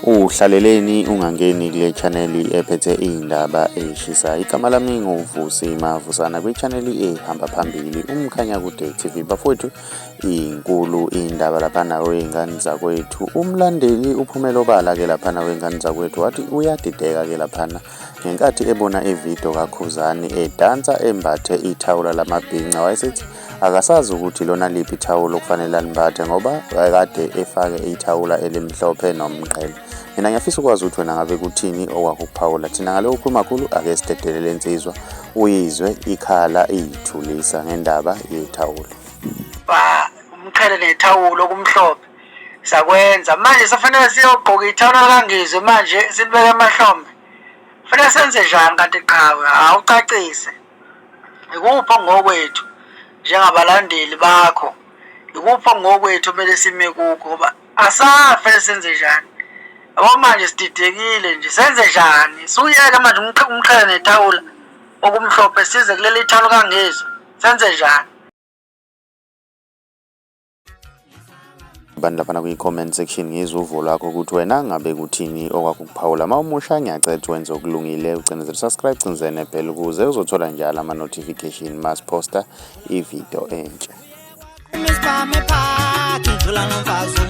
Uhlaleleni ungangeni kule chaneli ephethe iy'ndaba ey'shisa igama lami nguvusi mavusana kwichaneli ehamba phambili umkhanyakude tv bafowethu inkulu iy'ndaba laphana wey'ngane zakwethu umlandeli uphumela obala-ke laphana wey'ngane zakwethu wathi uyadideka-ke laphana Ngenkathi ebona ividiyo kaKhuzani edansa embathe ithawula lamabhinca wayesethi akasazi ukuthi lona liphi ithawula okufanele alimbathe ngoba wayekade efake ithawula elimhlophe nomqhele. Mina ngiyafisa ukwazi ukuthi wena ngabe kuthini okwakuphawula thina ngale ukhuluma khulu ake sidedelele insizwa uyizwe ikhala iyithulisa ngendaba yethawula. Umqhele nethawula okumhlophe sakwenza manje sefanele siyogqoka ithawula likangizwe manje silibeke emahlombe fanele senze njani kanti qhawe awucacise ikuphi ongokwethu njengabalandeli bakho ikuphi ongokwethu kumele sime kukho ngoba asafe senze njani yabo manje sididekile nje senze njani suyeke manje umqhele nethawula okumhlophe size kuleli thawula kangizwe senze njani abantu laphana kwi-comment section ngizwe uvo lwakho ukuthi wena ngabe kuthini okwakukuphawula uma umusha ngiyacetha wenze okulungile ucinezele subscribe cinzene phela ukuze uzothola njalo ama-notification mas posta ividiyo entsha Ngicula nomfazi